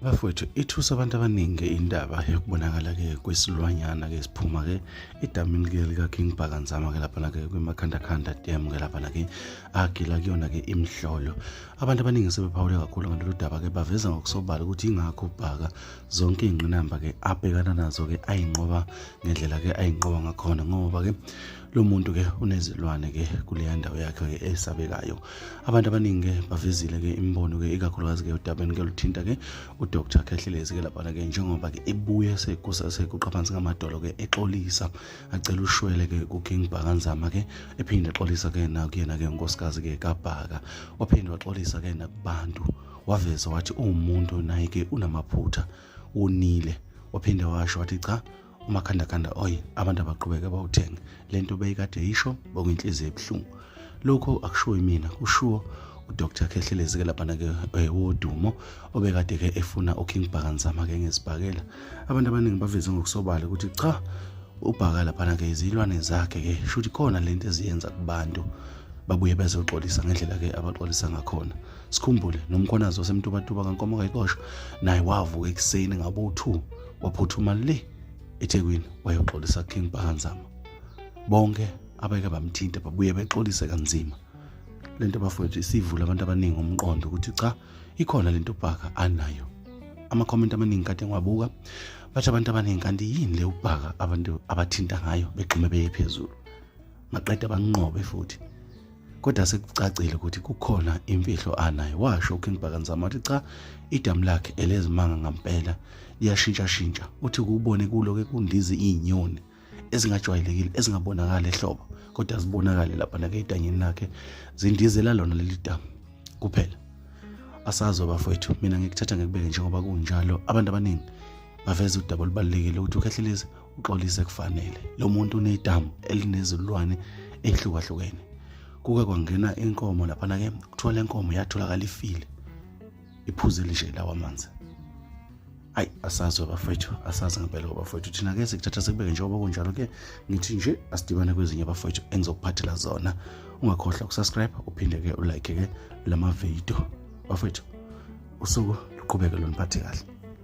bafowethu ithusa abantu abaningi indaba yokubonakala-ke kwesilwanyana-ke siphuma-ke edamini-ke lika-king bhakanzama-ke laphana-ke kwimakhandakhanda dam-ke laphana-ke agila kuyona-ke imhlolo abantu abaningi sebephawule kakhulu ngalolu daba-ke baveza ngokusobala ukuthi yingakho ubhaka zonke iy'ngqinamba-ke abhekana nazo-ke ayinqoba ngendlela-ke ayinqoba ngakhona ngoba-ke lo muntu ke unezilwane ke kuleya ndawo yakhe ke esabekayo abantu abaningi ke bavezile ke imibono ke ikakhulukazi ke udabeni ke luthinta ke udr khehlelezi ke laphana ke njengoba ke ebuye sekuqha phansi ngamadolo ke exolisa acela ushwele ke kuking bhakanzama ke ephinde exolisa ke nakuyena ke unkosikazi ke kabhaka waphinde waxolisa ke nakubantu waveza wathi uwumuntu naye ke unamaphutha wonile waphinde washo wathi cha umakhandakanda oyi abantu abaqhubeke bawuthenge le nto beyikade yisho bokuyinhliziyo ebuhlungu lokho akushiwo imina kushiwo udr khehlelezi ke laphana ke eh, wodumo obekade ke efuna uking bhakanzama ke ngezibhakela abantu abaningi baveze ngokusobala ukuthi cha ubhaka laphana ke izilwane zakhe ke shuthi khona lento eziyenza kubantu babuye bezoxolisa ngendlela ke abaxolisa ngakhona sikhumbule nomkhonazi wasemtubatuba kankomo kayikosho naye wavuka ekuseni ngabo-2 waphuthuma le eThekwini wayoxolisa King Pahanzama bonke abeke bamthinta babuye bexolise kanzima lento bafowethu isivula abantu abaningi umqondo ukuthi cha ikhona lento ubhaka anayo amakhomenti amaningi kade ngiwabuka bathi abantu abaningi kanti yini le ubhaka abantu abathinta ngayo begxume beye phezulu maqeda banqobe futhi kodwa sekucacile ukuthi kukhona imfihlo anayo washo uking bakanzama wathi cha idamu lakhe elezimanga ngampela liyashintshashintsha uthi kuwubone kulo-ke kundizi iy'nyoni ezingajwayelekile ezingabonakali ehlobo kodwa zibonakale lapha nake edanyeni lakhe zindizela lona leli damu kuphela asazo bafowethu mina ngikuthatha ngikubeke njengoba kunjalo abantu abaningi baveza udaba olubalulekile ukuthi ukhehlelezi uxolise kufanele lo muntu unedamu elinezilwane ehlukahlukene kuke kwangena inkomo laphana ke kuthiwa le nkomo yatholakala ifile iphuze lishe lawa amanzi ayi asazi abafowethu asazi ngempela abafowethu thina ke sikuthatha sikubeke njengoba kunjalo ke ngithi nje asidibane kwezinye abafowethu engizokuphathela zona ungakhohlwa ukusubscribe uphinde ke ulike ke lama video bafowethu usuku luqhubeke loniphathe kahle